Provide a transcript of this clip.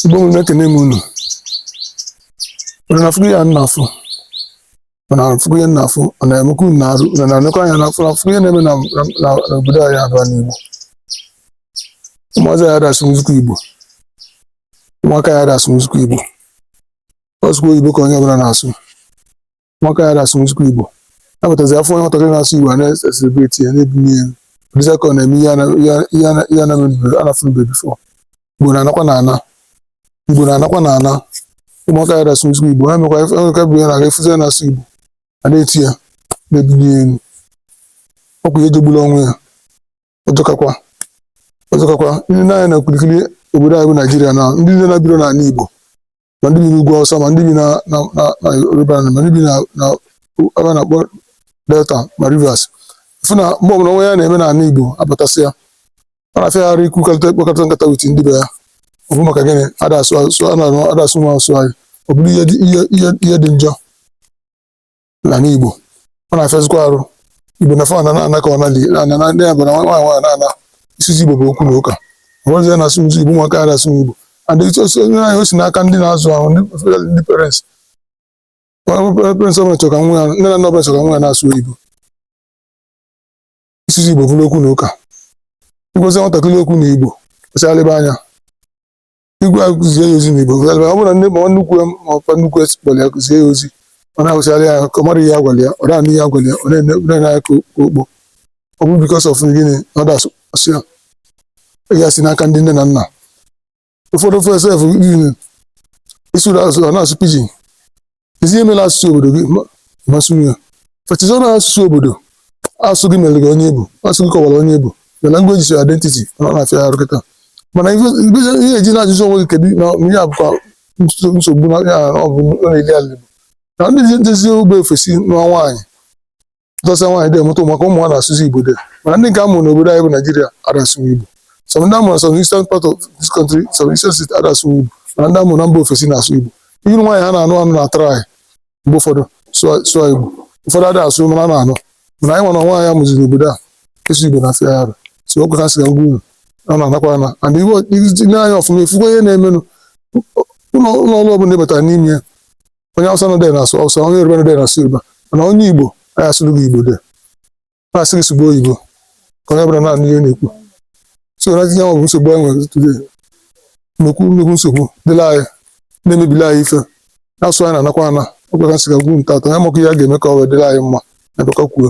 igbo mụrụ m ekene m unu unu na-afụkwa ihe m na-afụ unu na-afụkwa ihe m na-afụ ọ na-emekwa unu n'arụ unu na-enekwa anya na-afụ na-afụkwa ihe na-eme na na- na- n'obodo anyị a bụ ana igbo ụmụazị anyị ada asụzikwa igbo ụmụaka anyị ada asụzikwa igbo ọ sọkwa oyibo ka onye ọbụla na-asụ ụmụaka anyị ada asụzikwa Igbo a pụtazi a fụ nwatakịrị na-asụ Igbo a na-eselebreti ya na-ebuni ya ọ dịzi ka ọ na-eme ihe a na- ihe a- ihe a na- ihe a na-emebeghị a na-afụnube before Igbo na-anakwanụ ana Igbo na-anakwanụ ana ụmụaka anyị ada asụzikwa Igbo ha mekwa ife- ha mekwa bụ ya na-aga efuzi ya na-asụ Igbo a na-eto ya na-ebuni ya elu ọ kwa ihe jọgburu onwe ya ọ jọkakwa ọ jọkakwa i nene anya na okirikiri obodo anyị bụ naijiria na ndị niile na-ebirọ n'ala igbo ma ndị bi n'ugwu awụsa ma ndị bi na na na na yoruba land, ma ndị bi na na ebe a na-akpọ delta ma rivers ị fụ na mgbe ọbụla o nwe ihe a na-eme n'ala igbo ha batasịa ọ na-afịa ha arụ ikwu kọrịta ịkpakọrịta nkata with ndị be ya ọ bụ maka gịnị ada asụ asụ a na-arụ ada asụ nwa asụ anyị ọ bụrụ ihe dị- ihe ihe ihe dị njọ n'ana Igbo ọ na-afịazikwa arụ Igbo na fa ana na-ana ka ọ na ana na ndị abụla nwa nwa na-ana ịsụzi Igbo bụ okwu na ụka ọrụzi ya na-asụ Igbo nwa ka na-asụ Igbo and onye ahụ o si n'aka ndị na-azụ ha ndị parents parents ọbụla achọrọ ka nwa ya nne na nna ọbụla achọrọ ka nwa ya na-asụ Igbo ịsụzi Igbo bụrụ okwu na ụka ị gwazi nwatakịrị okwu na Igbo kwesịgharịba anya ị gwa ya okwu zie ya ozi n'igbo ọ bụrụ na nne mma nnukwu ya ma mpa nnukwu ya kpọrọ ya oku zie ya ozi ọ na-awụsịara ya ahụ ka ọ mara ihe a gwara ya ọ da-anụ ihe a gwara ya ọ na-ene ọ na-ene anya ka okpo ọ bụ because of gịnị na ọ da-asụ asụ ya ihe a si n'aka ndị nne na nna ụfọdụ fa sef gịnị ịsụrụ asụ ọ na-asụ pidgin ezi emela asụsụ obodo gị masị ya fetizi ọnụ asụsụ obodo asụ gị mere gị onye ị bụ asụ gị kọwara onye ị bụ the language is your identity ọ na-afịa arụ kịta mana ihe eji na-ajụzi onwe gị kedu na ihe a bụkwa nsogbu na ya ọ bụ na-eli ala Igbo na ndị nọzi ebe ofesi nụọ nwaanyị dọsa nwaanyị dị amụta ụmụaka ụmụ ha na-asụzi Igbo dị mana ndị nke a mụrụ n'obodo anyị bụ Naijiria ada asụzi Igbo some ndị a mụrụ some eastern part of this country some eastern state ada asụzi Igbo mana ndị a mụrụ na mba ofesi na-asụ Igbo iru nwaanyị ha na-anụ anụ na-atry mgbe ụfọdụ sụọ Igbo ụfọdụ ada asụ mana a na-anụ mana anyị nwere nwa anyị mụziri n'obodo a ịsụ Igbo na-afịa ya arụ so ọ kwa ihe m si na-agwa unu ọ na-anakwa ana and i nee anya ọfụma ị fụkwa ihe na-emenụ ụlọ ọrụ ọbụla ị batara n'ime ya onye awụsa nọdụ na-asụ awụsa onye yoruba nọdụ na-asụ yoruba mana onye igbo anyị asụrụ gị igbo de na-asị gị sụba oyibo ka onye ọbụla na-anụ ihe ị na-ekwu so na tinye bụ nsogbu anyị nwere today nnukwu nnukwu nsogbu dịrị anyị na-emebili anyị ife na asụ anyị na-anakwa ana ọ kwa ya ka m sị ka m gwa unu taata a maka ihe a ga-eme ka ọ wee dịrị anyị mma na bụka kwuo